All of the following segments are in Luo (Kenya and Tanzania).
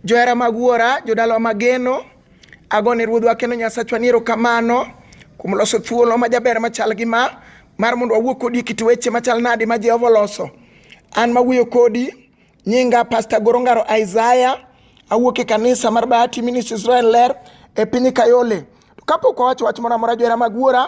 Johera mag wuora, jodalawa mageno, agone ruodhwa kendo Nyasachwa ni erokamano kuom loso thuolo ma jaber machal gi ma mar mondo wawuo kodi e kit weche machal nadi ma Jehova oloso. An mawuoyo kodi nyinga Pastor Gorongaro Isaiah, awuok e kanisa mar Bahati Ministries Israel Ler e piny Kayole. Kapok wawacho wach moro amora johera mag wuora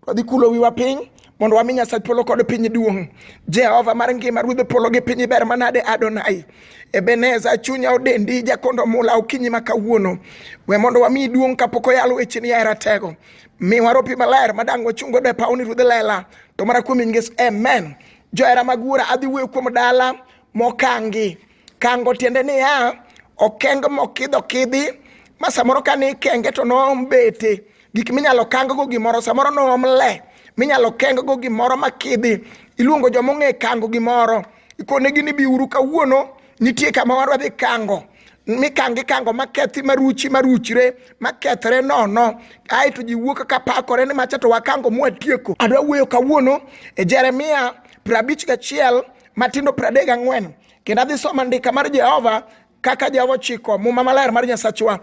Wadhi kulo wiwa piny mondo wami Nyasach polo kod piny duong'. Jehova mar ngima ruodh polo gi piny ber manade Adonai. Ebeneza chunya odendi jakondo mula okinyi ma kawuono. We mondo wami duong' kapok oyal wecheni ya ratego. Mi waropi maler madang' wachung' godo e pawni ruodh lela. To mana kuom nyingesu. Amen. Johera mag wuora adhi wuoyo kuom dala mokangi. Kango tiende niya, okeng mokidho kidhi ma samoro ka ni kenge to noom bete gik minyalo kang go gimoro samoro noom le minyalo keng go gimoro makidhi iluongo joma ong'e kango gimoro ikonegi ni biuru kawuono nitie kama wadwa dhi kango mikangi kango makethi maruchi maruchre makethre nono aeto ji wuok ka pakore ni macha to wakango mwatieko adwa wuoyo kawuono e jeremia prabich gachiel matindo pradek ang'wen kendo adhi somo andika mar jehova kaka jehova ochiko muma maler mar nyasachwa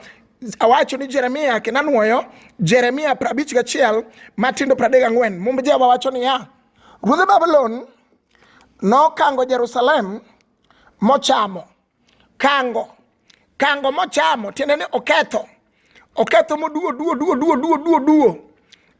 awacho ni jeremia kendo anwoyo jeremia prabich gachiel matindo pradek ang'wen mumb jehova wacho niya ruodh babulon nokango jerusalem mochamo kango Kango mochamo tiende ni oketho. Oketho moduo duo duo duo duo duo duo.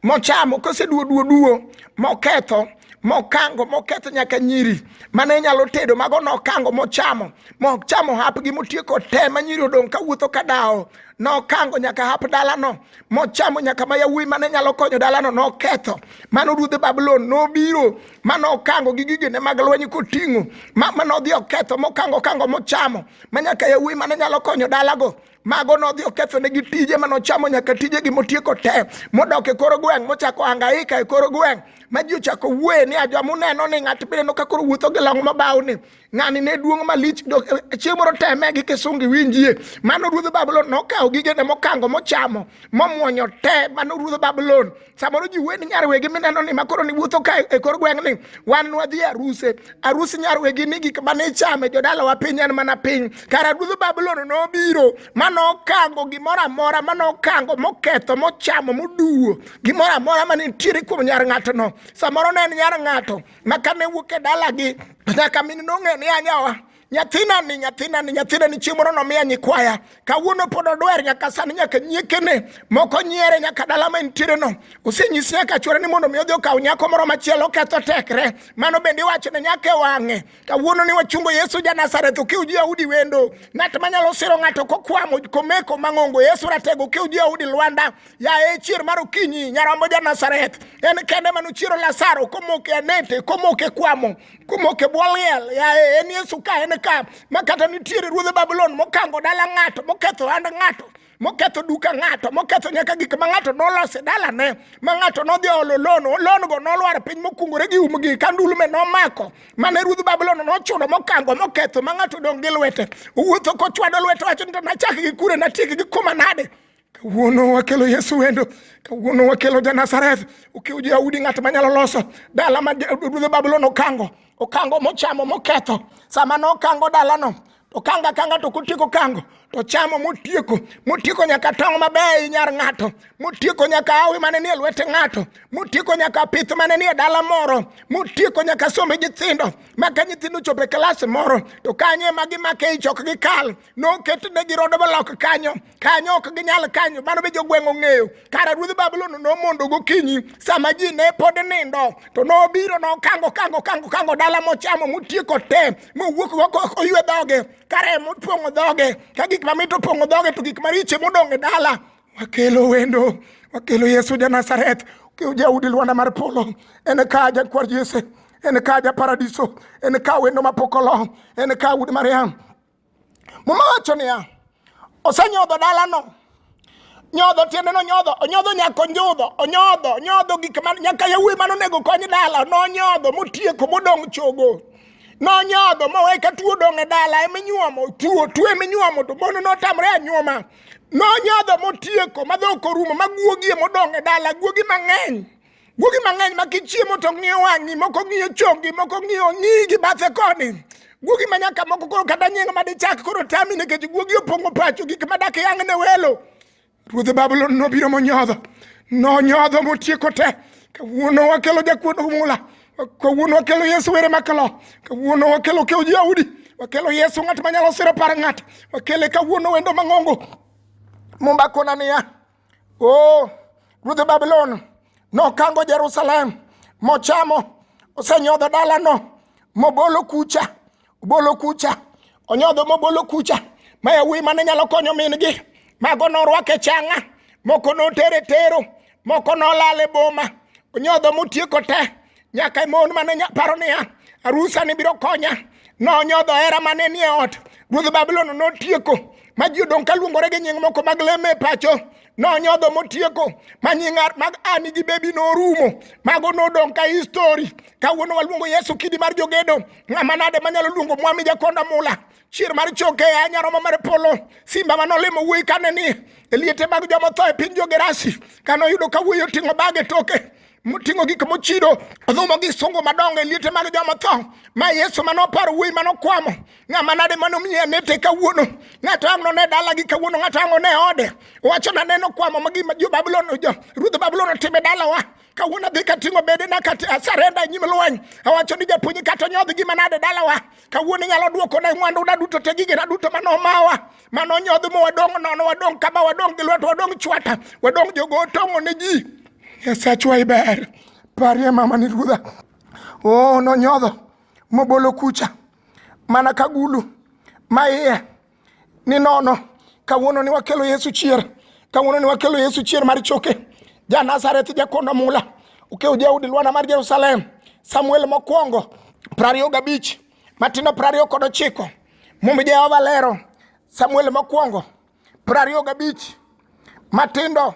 Mochamo kose duo duo duo moketho mokango moketho nyaka nyiri mane inyalo tedo mago nokango mochamo mochamo hapgi motieko te ma nyiri odong' ka wuotho ka dawo nokango nyaka hap dalano mochamo nyaka ma yawuoyi mane nyalo konyo dalano noketho mano ruodh babulon nobiro ma nokango gi gigene mag lweny koting'o ma nodhi oketho mokango kango mochamo ma nyaka yawuoyi mane nyalo konyo dalago mago nodhi okethonegi tije mane ochamo nyaka tijegi motieko te modok e kor gweng' mochako angaika e kor gweng' ma ji ochako wuoye ni ajwa muneno ni ng'at mineno ka koro wuotho gi long mabaw ni ng'ani ne duong' malich e, chieng' moro teme gi kisungi winjie mano ruodh babulon nokawo gigene mokango mochamo momwonyo te mano ruodh babulon samoro ji weni nyarwegi mineno ni makoro ni wuotho ka e kor gweng' ni wan nwadhi aruse arus nyarwegi ni gik mane ichame jodalawa piny en mana piny kara ruodh babulon nobiro ma nokango gimoro amora ma nokango moketho mochamo moduwo gimoro amora ma nitiere kuom nyar ng'atono samoro ne en nyar ng'ato ma kane wuok e dalagi nyaka min nong'e ni anyawa nyathina ni nyathina ni nyathina ni chieng' moro nomiya nyikwaya kawuono pod odwer nyaka sani nyaka nyiekene moko nyiere nyaka dala ma entiere no osenyisi nyaka chwore ni mondo mi odhi okaw nyako moro machielo oketho tekre mano bende iwacho ne nyaka e wang'e kawuono ni wachungo yesu ja nazareth okiw ji audi wendo ng'at manyalo siro ng'ato kokwamo komeko mang'ongo yesu ratego okiw ji audi lwanda yaye chier mar okinyi nyarombo ja nazareth en kende manochiero lasaro komoke anete komoke kwamo kumoke bwo liel yaye en yesu ka en ka ma kata nitiere ruodhe babulon mokango dala ng'ato moketho hand ng'ato moketho duka ng'ato moketho nyaka gik ma ng'ato nolose dalane ma ng'ato nodhi olo lon longo nolwar piny mokungore gi umgi ka ndulme nomako mane ruodh babulon nochuno mokango moketho ma ng'ato dong' gi lwete owuotho kochwado lwete wacho ni to nachak gi kure natiek gi kuma nade Kawuono wakelo Yesu wendo, kawuono wakelo Janazareth. Ukiw Yahudi ng'at manyalo loso dala ma ruodh Babulon okango, okango mochamo moketho. Sama nokango dalano, okanga kanga to kotieko kango to chamo motieko motieko nyaka tong' mabeyo nyar ng'ato motieko nyaka awi mane nie lwete ng'ato motieko nyaka pith mane nie dala moro motieko nyaka sombe nyithindo maka nyithindo chopo e klas moro to kanye ma gimake ich ok gikal noketnegi rode malok kanyo kanyo ok ginyal kanyo mano be jogweng' ong'eyo kara ruodh babulon nomondo gokinyi sama ji ne pod nindo to nobiro nokango kango kango kango dala mochamo motieko te mowuok oywe dhoge kara ema opong'o dhoge ka gik mamit opong'o dhoge to gik mariche modong' e dala wakelo wendo wakelo yesu ja nazareth kiu jaudi lwanda mar polo en ka jakwar jese en ka ja paradiso en ka wendo mapokolo en ka ud mariam Muma wacho niya, osenyodho dalano. Nyodho tiende no nyodho, onyodho nyaka onjudho, onyodho, onyodho gik ma nyaka yawuoyi mane onego kony dala, nonyodho motieko modong' chogo. Nonyodho mowe ka tuo dong' e dala ema inyuomo, tuo, tuo ema inyuomo to mono notamre anyuoma. Nonyodho motieko ma dhok orumo ma guogi ema odong' e dala, guogi mang'eny. Guogi mang'eny ma kichiemo to ng'iyo wang'i, moko ng'iyo chongi, moko ng'iyo nyigi bathe koni. Guogi ma nyaka moko koro kata nying ma dichak koro tami nikech guogi opong'o pacho gik ma dak yang' ne welo. Ruodh Babulon nobiro monyodho, nonyodho motieko te. Kawuono wakelo jakuod mula, kawuono wakelo Yesu were makalo, kawuono wakelo kew Yahudi, wakelo Yesu ng'at manyalo siro par ng'at, wakele kawuono wendo mang'ongo. Mumba kona niya, Oh, ruodh Babulon nokango Jerusalem mochamo, osenyodho dalano mobolo kucha, obolo kucha, onyodho mobolo kucha. Ma yawuoyi mane nyalo konyo min-gi, mago norwake changa, moko notere tero, moko nolale boma, onyodho motieko te, Nyaka e mon mane paro niya, arusa ni biro konya, nonyodho hera mane nie ot. Ruodh Babulon notieko ma ji odong' ka luongore gi nying moko mag leme e pacho nonyodho motieko ma nying mag ani gi bebi norumo mago nodong' ka histori kawuono waluongo yesu kidi mar jogedo ng'ama nade manyalo luongo mwami jakonda mula chier mar choke a nyaroma mar polo simba ma nolimo wuoyi kane ni e liete mag jomotho e piny jogerasi kanoyudo ka wuoyi oting'o bage toke moting'o gik mochido odhumo gi sungu madongo e liete mag joma tho ma yesu mane oparo wuoyi mane okwamo ng'ama nade mane omiye anete kawuono ng'ato ang' none dalagi kawuono ng'ato ang' one ode wacho na neno kwamo ma gima jo babulon jo ruodh babulon otime dalawa kawuono adhi kating'o bedena kasarenda e nyim lweny awacho ni japuonj kata onyodh gima nade dalawa kawuono inyalo dwokona mwanduna duto te gigena duto mane omawa mano nyodh mo wadong' nono wadong' kama wadong' gi lwet wadong' chwata wadong' jogo otong'o ne ji nyasachwa iber parie mama ni ruodha o oh, nonyodho mobolo kucha mana ka gulu ma iye ni nono kawuono ni wakelo yesu chier kawuono ni wakelo yesu chier mar choke ja nazareth jakondo mula ukew jaudi lwana mar jerusalem samuel mokwongo prariyo gabich Matindo prariyo kod ochiko. Mumbi Jehova lero Samuel mokwongo prariyo gabich. Matindo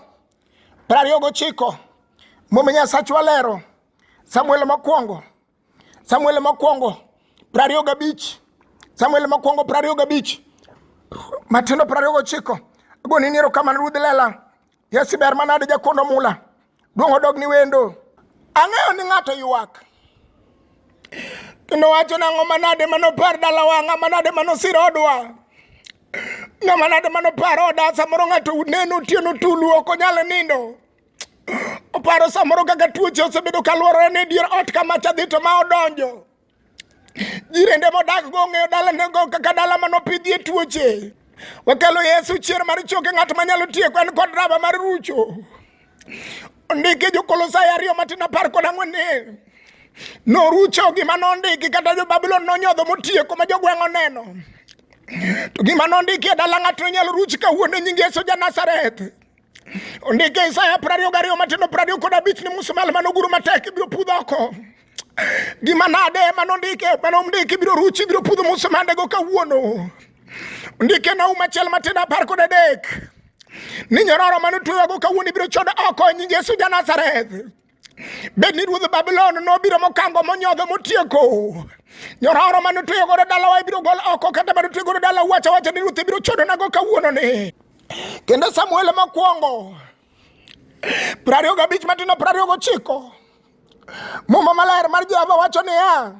prariyo gochiko. Mumbi Nyasachwa lero Samuel mokwongo Samuel mokwongo prariyo gabich. Samuel mokwongo prariyo gabich. Matindo prariyo gochiko. Agonini erokamano Ruoth lela. Yesi ber manade jakondo mula. Duong' odog ni wendo. Ang'eyo ni ng'ato ywak. Kendo wacho nang'o manade manopar dalawa, ng'a manade manosiro odwa. Ng'a manade manopar oda samoro ng'ato neno otieno tulu ok onyal nindo. Oparo samoro kaka tuoche osebedo kalworore ni dier ot kama cha dhi to ma odonjo. Jirende modak go ong'eyo dalanego kaka dala manopidhie tuoche. Wakelo Yesu chier mar choke ng'at manyalo tieko en kod raba mar rucho. Ondike Jokolosai ariyo matin apar kod ang'wen ni norucho gima nondiki kata jo Babulon nonyodho motieko ma jogweng' oneno. To gima nondiki e dala ng'ato nyalo ruch kawuono nying Yesu ja Nazareth. Ondike Isaya prariyo gariyo matindo prariyo kod abich ni musumal manoguro matek ibiro pudh oko gima nade manondike manomdiki biro ruchi ibiro pudho musumandego kawuono ondike naum achiel matindo apar kod adek ni nyororo manotwewago kawuono ibiro chod oko nying Yesu Janazareth Bed ni ruodh Babulon nobiro mokango monyodho motieko nyororo mane otweyo godo dalawa ibiro gol oko kata mane otweyo godo dala wacha wacha ni ruoth ibiro chodonago kawuononi kendo Samuel mokwongo piero ariyo gabich matino piero ariyo gochiko muma maler mar Jehova wacho niya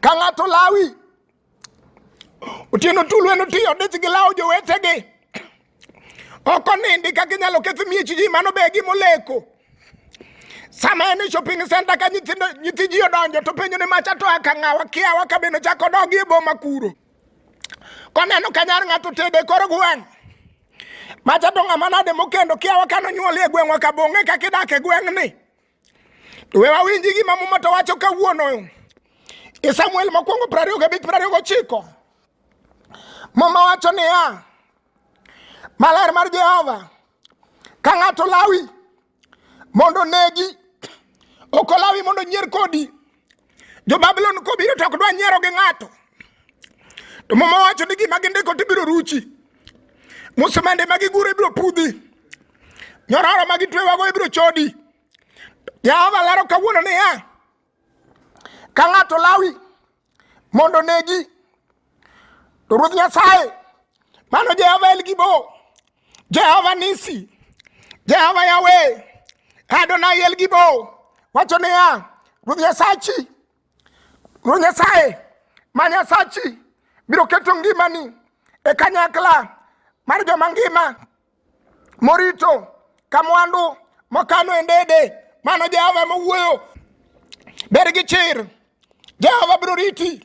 ka ng'ato lawi Otieno Tulwe notiyo dich gi lawo jowetegi ok onindi ka ginyalo ketho miech ji mano be gimoleko sama en e shopping center ka nyithindo nyithi ji odonjo to penjo ni macha to aka ng'awa kiawa ka bende chako dogi e boma kuro koneno ka nyar ng'ato tede koro gweng' macha to ng'ama nade mokendo kiawa ka nonyuol e gweng'wa kabong'e kaka idak e gweng'ni We wawinji gima Muma to wacho kawuono e Samuel mokwongo piero ariyo gabich piero ariyo gochiko. Muma wacho niya, maler mar Jehova ka ng'ato lawi mondo onegi, ok olawi mondo onyier kodi. Jo Babulon kobiro to ok dwa nyiero gi ng'ato. To mama wacho ni gima gindiko to ibiro ruchi. Musimende ma giguro ibiro pudhi. Nyororo ma gitwewago ibiro chodi. Jehova lero kawuono niya, ka ng'ato lawi mondo negi Ruoth Nyasaye, mano Jehova El Gibo, Jehova Nisi, Jehova Yahweh, Adonai El Gibo, wacho niya, Ruoth Nyasachi, Ruoth Nyasaye ma Nyasachi biro keto ngimani e kanyakla mar joma ngima morito ka mwandu mokano e ndede. Mano Jehova ema owuoyo. Bed gi chir, Jehova biro riti,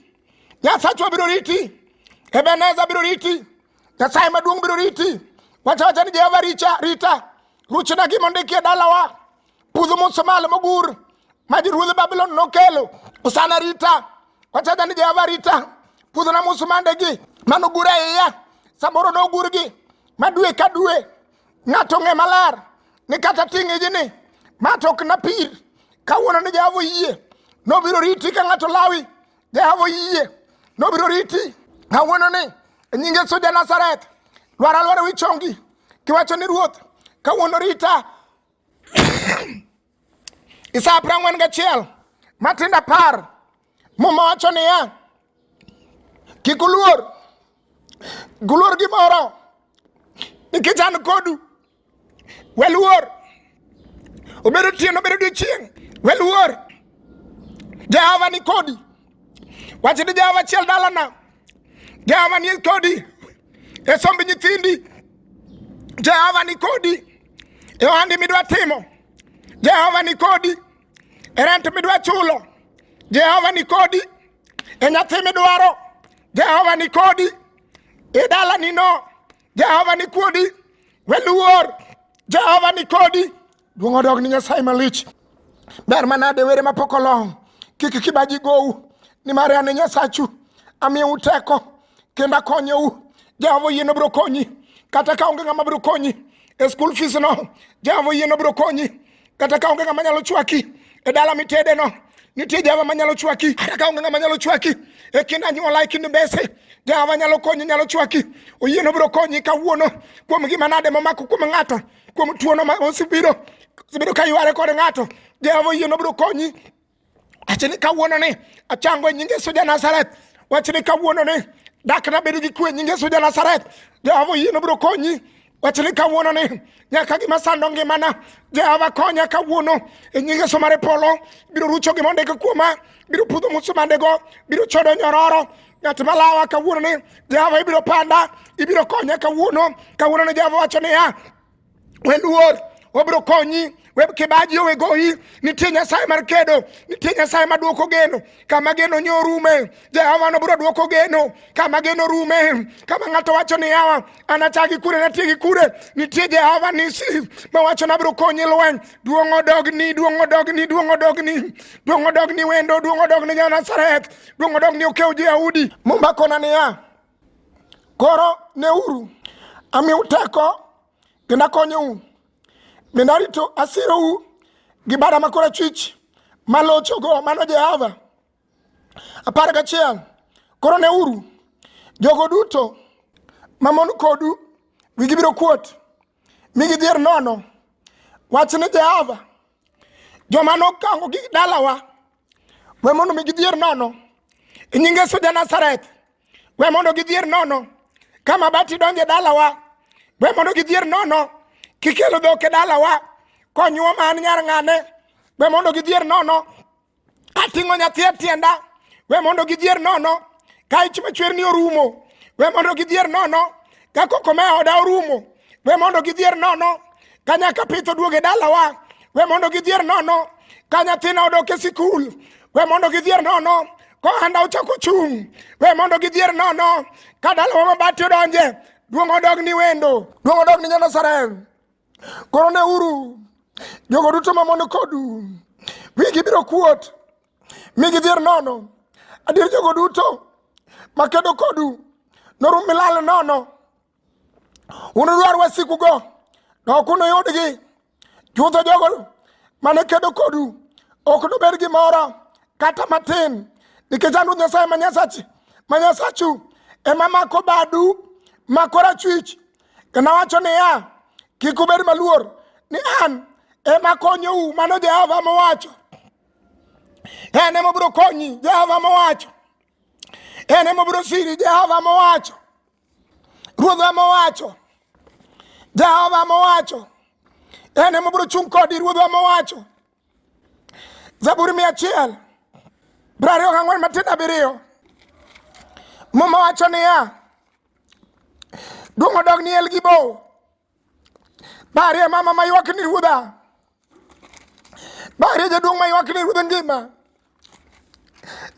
Nyasachwa biro riti, Ebeneza biro riti, Nyasaye maduong' biro riti. Wacha wacha ni Jehova richa rita, ruchna gima ondikie dalawa, pudho musumali mogur ma ruodh Babulon nokelo osana rita. Wacha wacha ni Jehova rita, pudhona musumandegi manogur e iya, samoro nogurgi ma dwe ka dwe ng'ato ng'e maler ni kata ting' ijini ma to ok napir kawuono ni jehova oyie nobiro riti ka ng'ato lawi jehova oyie nobiro riti kawuono ni e nying yesu ja nazareth lwar alwara wi chongi kiwacho ni ruoth kawuono rita isa apar ang'wen gachiel matindo apar Muma wacho niya, kik uluor, kik uluor gimoro nikech an kodu. Weluor, obed otieno, obed odiechieng', weluor, Jehova ni kodi. Wach ni Jehova achiel dalana, Jehova ni kodi e somb nyithindi, Jehova ni kodi e ohandi midwa timo, Jehova ni kodi. e rent midwa chulo jehova ni kodi e nyathi midwaro jehova ni kodi e dalani no jehova ni kodi weluor jehova ni kodi duong' odog ni nyasaye malich ber manade were mapok olong kik kibaji gowu nimar an e nyasachu amiyou teko kendo akonyou jehova oyieno biro konyi kata ka onge ng'ama biro konyi e skul fees no jehova oyieno biro konyi kata ka onge ng'ama nyalo chwaki e dala mitede no nitie jehova manyalo chwaki kata ka onge ng'ama nyalo chwaki e kind anyuola e kind mbese jehova nyalo konyi nyalo chwaki oyieno biro konyi kawuono kuom gima nade momako kuom ng'ato kuom tuono ma osebiro osebiro ka yware kod ng'ato jehova oyieno biro konyi Wacha ni kawuono ni achango e nying Yesu ja Nazareth. Wacha ni kawuono ni dak na bedo gi kwe e nying Yesu ja Nazareth. Jehova oyie nobiro konyi. Wacha ni kawuono ni nyaka gima sando ngimana Jehova konya kawuono e nying Yesu mar polo. Biro rucho gima ondiko kuoma, biro pudho musumandego, biro chodo nyororo, ng'at malawa kawuono ni Jehova ibiro panda, ibiro konya kawuono. Kawuono ni Jehova wacho niya, Weluor obiro konyi kibaji owe goyi nitie nyasaye mar kedo nitie nyasaye maduoko geno kama geno nye orume jehova nobiro duoko geno kama geno rume kama ng'ato wacho ni yawa anachagi kure natiegi kure nitie jehova nisi mawacho nabiro konyi lweny duong' odogni duong' odogni duong' odogni duong' odogni wendo duong' odogni janasareth duong' odogni okew jeyahudi mumba kona niya Koro neuru, amiu teko kendo akonyou, bende arito asirou gi bada ma korachwich malochogo mano Jehova. Apar gachiel, koro neuru, jogo duto mamon kodu wigi biro kuot mi gidhier nono. Wach ni Jehova, joma nokango gi dalawa we mondo mi gidhier nono. E nyinge Yesu ja Nazareth, We mondo gidhier nono. Ka mabati donje dalawa. We mondo gidhier nono. Kikelo dhok e dalawa. Konyuo ma an nyar ng'ane. We mondo gidhier nono. Ating'o nyathi e tienda. We mondo gidhier nono. Ka ich machwer ni orumo. We mondo gidhier nono. ka koko me oda orumo we mondo gidhier nono ka nyaka pith oduog e dalawa we mondo gidhier nono ka nyathina odok e sikul we mondo gidhier nono kohanda ochako chung' we mondo gidhier nono ka dalawa mabati odonje duong' odog ni wendo duong' odog ni nyanasarem koro ne uru jogo duto mamon kodu wigi biro kuot mi gidhier nono. Adier jogo duto makedo kodu norum milal nono. Unudwar wasikugo, to ok unuyudgi. Chutho jogo mane kedo kodu ok nobed gimoro kata matin, nikech an Ruoth Nyasaye ma Nyasachi ma Nyasachu ema mako badu ma korachwich kendo awacho niya, kik ubed maluor ni an ema konyou, mano Jehova mowacho. En ema obiro konyi, Jehova mowacho. En ema obiro siri, Jehova mowacho. Ruoth ema owacho. Jehova mowacho. En ema obiro chung' kodi, Ruoth ema owacho. Zaburi mia achiel piero ariyo gang'wen matin abiriyo Muma wacho niya, duong' odog ni Elgibo, Barie mama ma ywak ni ruodha. Barie jaduong' ma ywak ni ruodha ngima.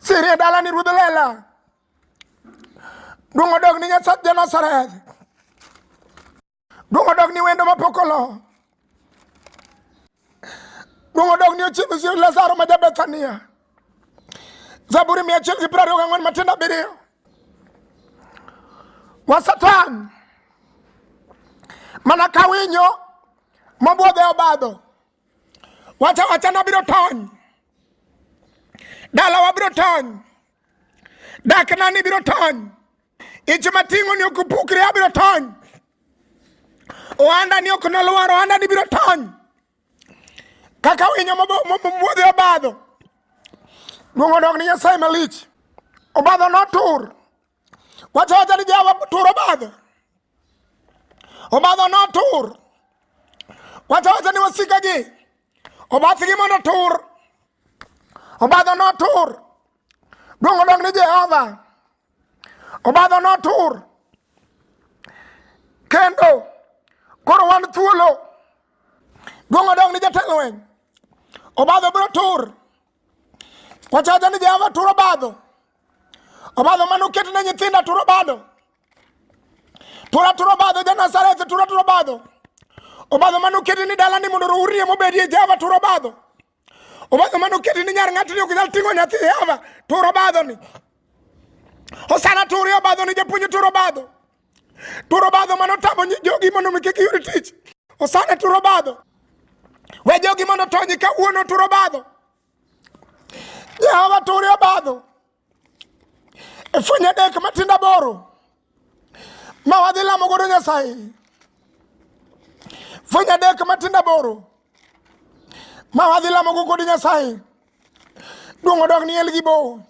Sirie dala ni ruodha lela. Duong' odog ni Nyasach ja Nazareth. Duong' odog ni wendo mapok olo. Duong' odog ni ochiedh Lazaro ma ja Bethania. Zaburi mia achiel gi piero ariyo gang'wen matindo abiriyo wa Satan mana ka winyo mobwodhe obadho wacha wacha nabiro tony dala wabiro tony dak nani biro tony ich mating'o ni ok pukre abiro tony ohanda ni ok nolwar ohanda ni biro tony Kaka winyo mobudhi obadho, luongo odok ni Nyasaye malich. Obadho notur. Wacho wacha ni Jehova tur obadho. Obadho notur. Wacho wacha ni wasikagi. Obathgi mondo otur. Obadho notur. Luongo odok ni Jehova. Obadho notur. Kendo koro wan thuolo. Gongo dong ni jatend lweny. Obadho biro tur. Wachacha ni Jehova turo badho. Obadho mane oket ne nyithinda turo badho. Tura turo badho ja Nazareth tura turo badho. Obadho mane oket ni dalani mondo urie mobedie Jehova turo badho. obadho mane oketi ni nyar ng'atni ok nyal ting'o nyathi hava turo badhoni osana turi obadhoni japuonj turo badho turo badho mane otamo jogi mondo mi kik yud tich osana turo badho we jogi mondo otonyi kawuono turo badho jehova turi obadho e fwenyo adek matindo aboro ma wadhi lamo godo nyasaye fwenyo adek matindo aboro ma wadhi lamo go godo nyasaye duong' odok ni elgi bo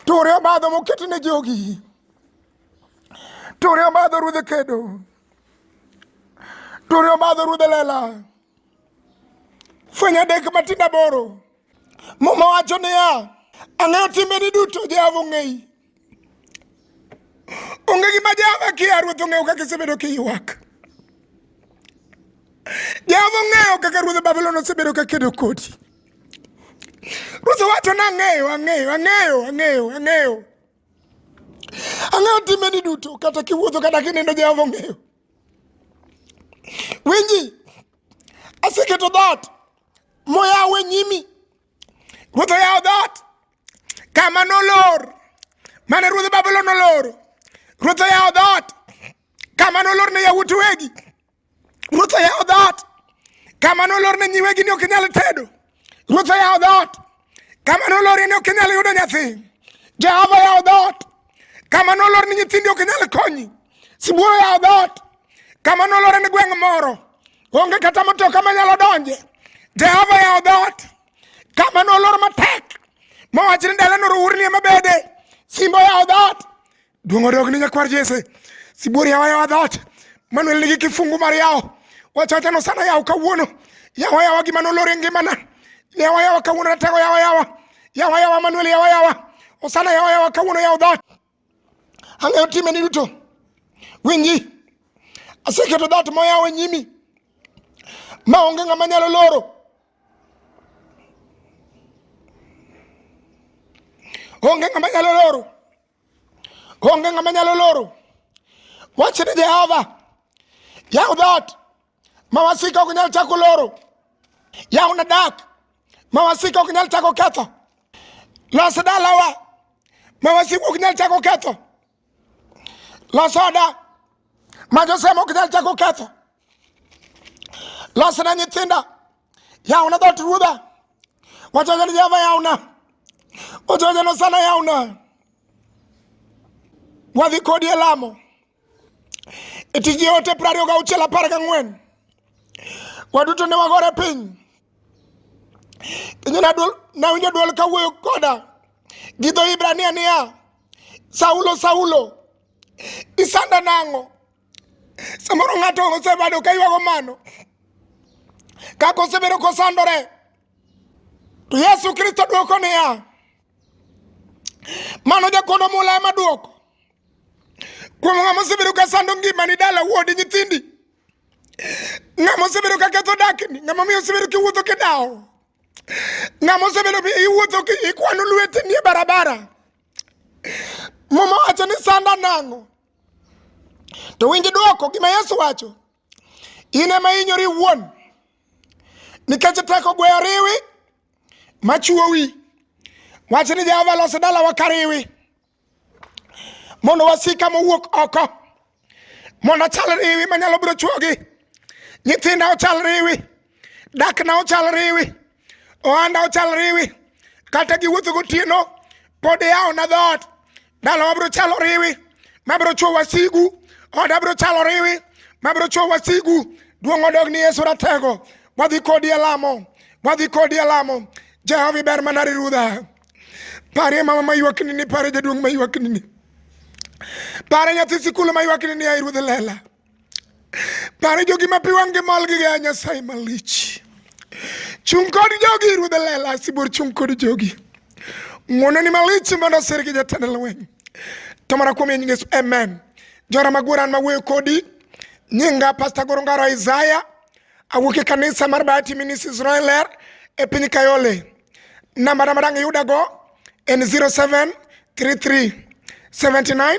ture obadho moket ne jogi ture obadho ruodhe kedo ture obadho ruodhe lela fwenyo adek matindo aboro Muma wacho niya, ang'eyo timbeni duto Jehova ong'eyi. Onge gima Jehova kia, Ruoth ong'eyo kaka isebedo kiywak. Jehova ong'eyo kaka ruodh Babulon osebedo ka kedo kodi. Ruoth wacho ni ang'eyo, ang'eyo, ang'eyo, ang'eyo, ang'eyo. Ang'eyo timbeni duto, kata kiwuotho kata kinindo Jehova ong'eyo. Winji, aseketo dhoot moyawe nyimi ruoth oyawo dhoot kama nolor mane ruodh babulon noloro ruoth oyawo dhoot kama nolor ne yawuot wegi ruoth oyawo dhoot kama nolor ne nyiwegi ni ok inyal tedo ruoth oyawo dhoot Kama nolori ni ok inyal yudo nyathi, Jehova yawo dhoot. Kama nolori ni nyithindi ok inyal konyi, sibuoro yawo dhoot. Kama nolori ni gweng' moro onge kata matoka manyalo donje, Jehova yawo dhoot. Kama nolor matek mowach ni dalano rourni ema bede, simbo yawo dhoot. Duong' odog ni nyakwar Jesse. Sibuor yawa yawa dhoot. Manuel nigi kifungu mar yawo. Wacha wacha nosana yawo kawuono. Yawa yawa gima nolor e ngimana. Yawa yawa kawuono natego yawa yawa. Yawa yawa Manuel yawa yawa. Osana yawa yawa kawuono yawo dhoot. Ang'eyo timeni duto. Winji. Aseketo dhoot moyawo e nyimi. Ma onge ng'ama nyalo loro. Onge ng'ama nyalo loro. Onge ng'ama nyalo loro. Wach ni Jehova. Yaw dhoot ma wasika ok nyal chako loro. Yaw na dak ma wasika ok nyal chako ketho. Los dalawa ma wasika ok nyal chako ketho. Los oda ma josemo ok nyal chako ketho. losna nyithinda yawna dhoot ruodha wachocho ni jehova yawna wachocho ni osana yawna wadhi kodi e lamo e tij joote piero ariyo gauchiel apar gang'wen waduto ne wagore piny kendo nawinjo dwol kawuoyo koda gi dho ibrania niya saulo saulo isanda nang'o Samoro ng'ato osebado ka ywago mano kaka osebedo kosandore to Yesu Kristo dwoko niya, mano jakono mula ema dwoko kuom ng'ama osebedo ka sando ngimani dala wuodi nyithindi ng'ama osebedo ka ketho dakni ng'ama miyo osebedo kiwuotho kidawo ng'ama osebedo iwuotho ikwano lwetni e barabara muma wacho ni sanda nang'o To winj dwoko gima Yesu wacho, in ema inyori iwuon nikech teko gweyo riwi machuowi. Wach ni Jehova los dalawa kariwi mondo wasika mowuok oko mondo achal riwi manyalo biro chuogi nyithinda ochal riwi dakna ochal riwi ohanda ochal riwi kata giwuotho gotieno pod iyawona dhoot dala wabiro chalo riwi mabiro chuo wasigu oda biro chalo riwi mabiro chuo wasigu duong' odog ni yesu ratego wadhi kodi e lamo wadhi kodi e lamo jehova iber mana rirudha parie mama maywaknini parie jaduong' maywaknini parie nyathi sikul maywaknini ai ruodh lela Pare jogi ma pi wang'gi mol gi gaya Nyasaye malich. Chung' kod jogi ruodh lela sibuor chung' kod jogi. Ng'wono ni malich mondo osir gi jatend lweny. To mana kuom nying Yesu amen. Jora maguran mawuoyo kodi nyinga Pastor Goro Ngaro Isaiah awuok e kanisa mar Bahati Ministries Royal Air e piny Kayole. Namba na madang' yudago en 0733 79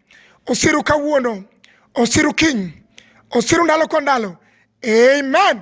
osiru kawuono, osiru kiny, osiru ndalo kwa ndalo. Amen.